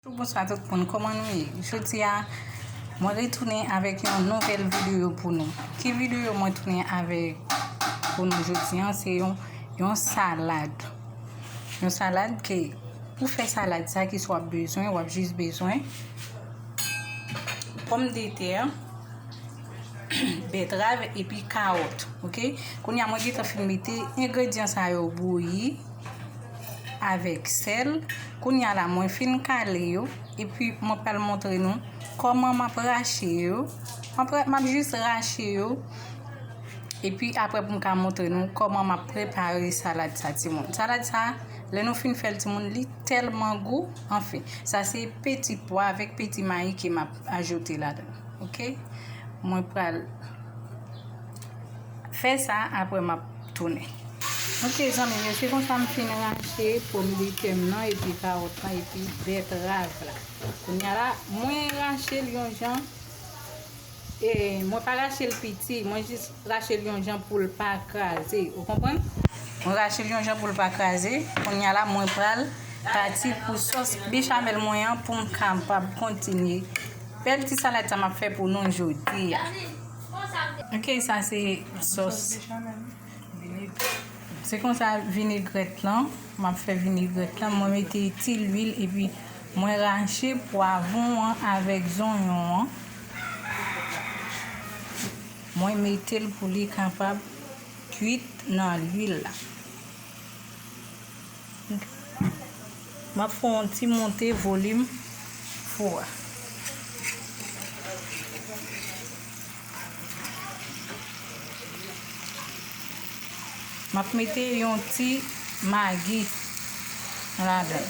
Bonswa tout moun kòman nou ye jodi a mwen retounen avèk yon nouvèl videyo pou nou ki videyo mwen tounen avèk pou nou jodi an se yon yon salad yon salad ke pou fè salad sa ki sou ap bezwen wap jis bezwen pòm de tè bètrav epi kawòt ok kounye a mwen gentan fin mete engredyan sa yo bouyi avèk sèl kounya la mwen fin kale yo epi mwen pral montre nou kòman map rache yo map jis rache yo epi apre pou m ka montre nou kòman map prepare salad sa timoun salad sa lè nou fin fèl timoun li tèlman gou anfen sa se peti pwa avèk peti mayi ke map ajoute la dan ok mwen pral Fè sa aprè map tounen. Ok zanmim yo se konsa m fin rache pom de tè m nan epi kawòt lan epi bètrav la kounya la mwen rachel yon jan e mwen pa rachel piti mwen jis rachel yon jan poul pa kraze ou konprann mwen rachel yon jan poul pa kraze kounya la mwen pral pati pou sos bechamel mwen an poum kapab kontinye bèl ti salad sa map fè pou nou jodia. Ok sa se sos se konsa vinegrèt lan map fè vinegrèt lan mwen mete ti lwil epi mwen rache pwavon an avèk zonyon an mwen metel pou li kapab kwit nan lwil la. Map fè yon ti monte volim fou a. Map mete yon ti magi ladan.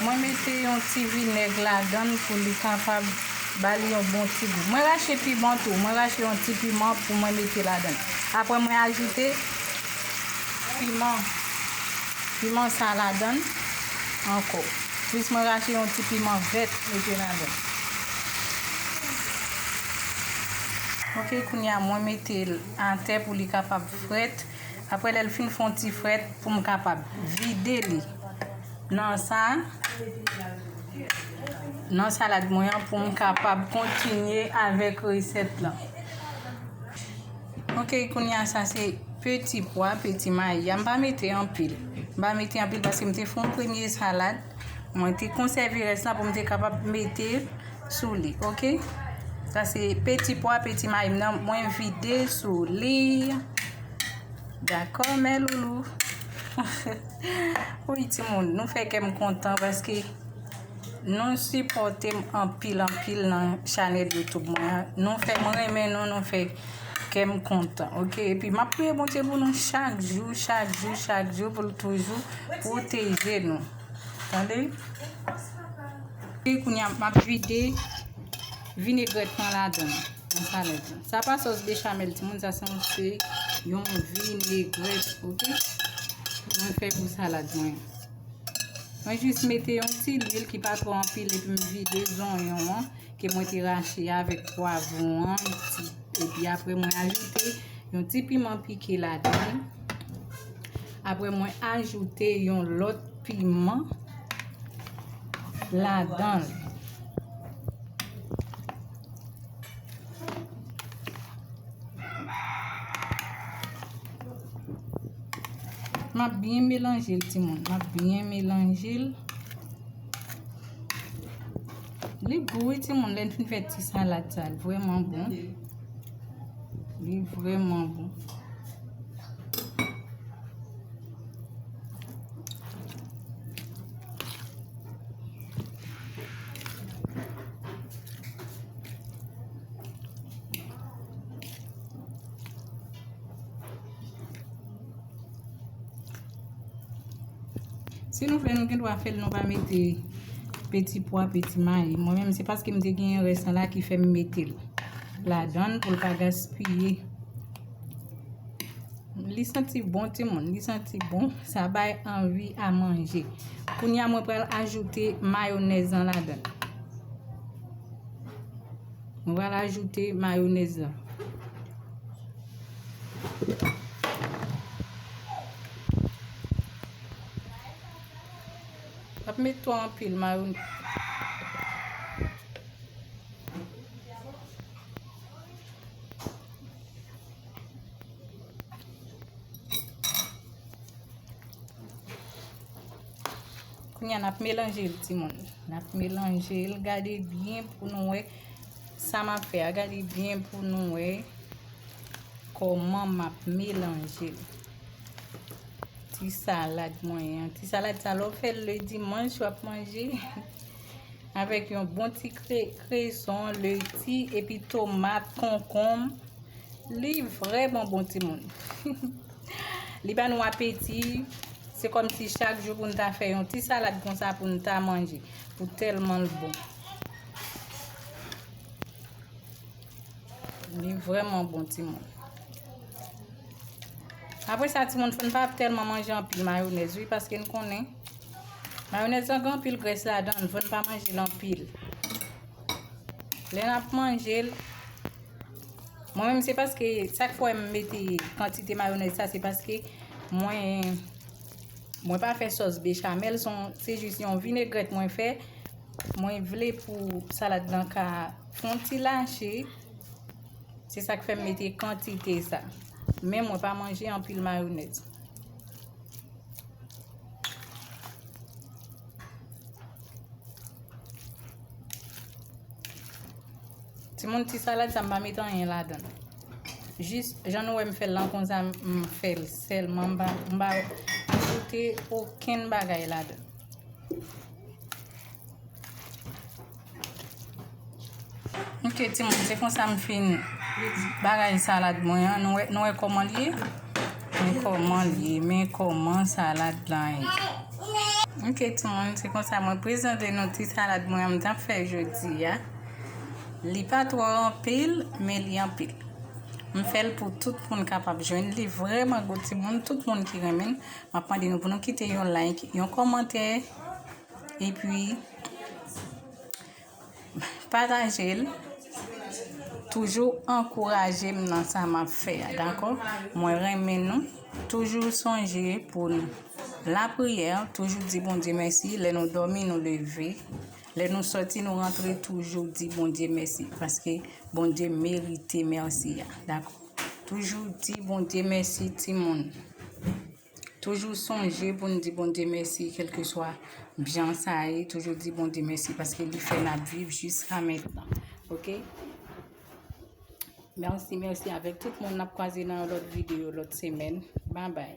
Mwen mete yon ti vinèg ladan l pou li kapab ba li yon bon ti gou. Mwen rache piman tou. Mwen rache yon ti piman pou mwen mete ladan l. Apre mwen ajoute piman sa ladan l ankò. Plis mwen rache yon ti piman vèt mete ladan. Ok kounya mwen metel atè pou li kapab frèt. Aprè lèl fin fon ti frèt poum kapab vide li nan sa nan salad mwen an poum kapab kontinye avèk resèt lan. Ok kounya sa se peti pwa peti mayi ya m pa mete anpil m pa mete anpil paske m te fè yon premye salad mwen te konsève rès la pou m te kapab mete sou li ok sa se peti pwa peti mayi m nan mwen vide sou li dakò mè loulou wouyy timoun nou fè kè m kontan paske Nou sipòtem anpil anpil nan chanèl youtube mwen an nou fèm renmen nou nou fè kèm kontan ok epi map priye Bondye pou nou chak jou chak jou chak jou poul toujou pwoteje nou tande kounya map vide vinegrèt lan ladann nan chanèl lan sa pa sòs bechamel timoun sa se yon se yon vinegrèt ok mwen fè pou salad mwen. Mwen jis mete yon ti lwil ki pa tro anpil epi m vide zonyon an ke mwen te rache a avèk pwavon an. Epi apre mwen ajoute yon ti piman pike ladann. Apre mwen ajoute yon lòt piman ladann. M ap byen melanje l timoun. M ap byen melanje l. Li gou wi timoun lè n fin fè ti salad sa. Li vreman bon. Li vreman bon. Si nou vle nou gen dwa fèl nou pa mete peti pwa, peti mayi. Mwen menm se paske m te gen yon rès nan la ki fè m mete l. La dan pou l pa gaspiye. Li santi bon ti moun, li santi bon. Sa bay anvi a manje. Kounya mwen pral ajoute mayonèz nan la dan. Mwen pral ajoute mayonèz la. Mwen ap met twò anpil mayonèz. Kounya nap melanjel timoun. Nap melanjel gade byen pou nou wè sa map fè a. Gade byen pou nou wè kòman map melanjel. Ti salad mwen an. Ti salad sa lò fèl le dimanj wap manje. Avèk yon bon ti kreson, leti, epi tomat, konkonm. Li vreman bon timoun. Li ba nou apeti, se kòm si chak jou pou nou ta fè yon ti salad konsa pou nou ta manje, pou tèlman l bon. Li vrèman bon ti moun. Apre sa ti moun fòn pa ap tèlman manje anpil mayonèz wi, paske n konnen, mayonèz lan gen anpil grès la dan, fòn pa manje l anpil. Lè n ap manje l. Mwen menm se paske sak fè m mete kantite mayonèz sa se paske mwen mwen pa fè sòs bechamel son se jis yon vinegrèt mwen fè mwen vle pou salad nan ka fon ti lache se sak fè m mete kantite sa men mwen pa manje anpil mayonèz Ti moun ti salad sa m pa met anyen ladan. Jis jan nou wè m fè l lan konsa m fè l sèlman m pa ajoute okenn bagay ladan. Ok ti moun se konsa m fin bagay salad mwen an nou wè kòman l ye. Men koman l ye men koman salad lan ye ok timoun se konsa mwen prezante nou ti salad mwen an m tap fè jodi a li pa twò anpil men li anpil m fè l pou tout moun kapab jwenn li vrèman gou timoun tout moun ki renmen l m ap mande nou pou nou kite yon like yon kòmantè epi Patajel toujou ankourajem nan sa map fè a dakò mwen renmen nou toujou sonje pou nou lapriyè toujou di Bondye mèsi lè nou dòmi nou leve lè nou sòti nou rantre toujou di Bondye mèsi paske Bondye merite mèsi a dakò toujou di Bondye mèsi timoun. Toujou sonje pou n di Bondye mèsi kèlkeswa bjan sa ye toujou di Bondye mèsi paske li fè nap viv jiska mentnan ok mèsi mèsi avèk tout moun nap kwaze nan yon lòt videyo lòt semèn babay.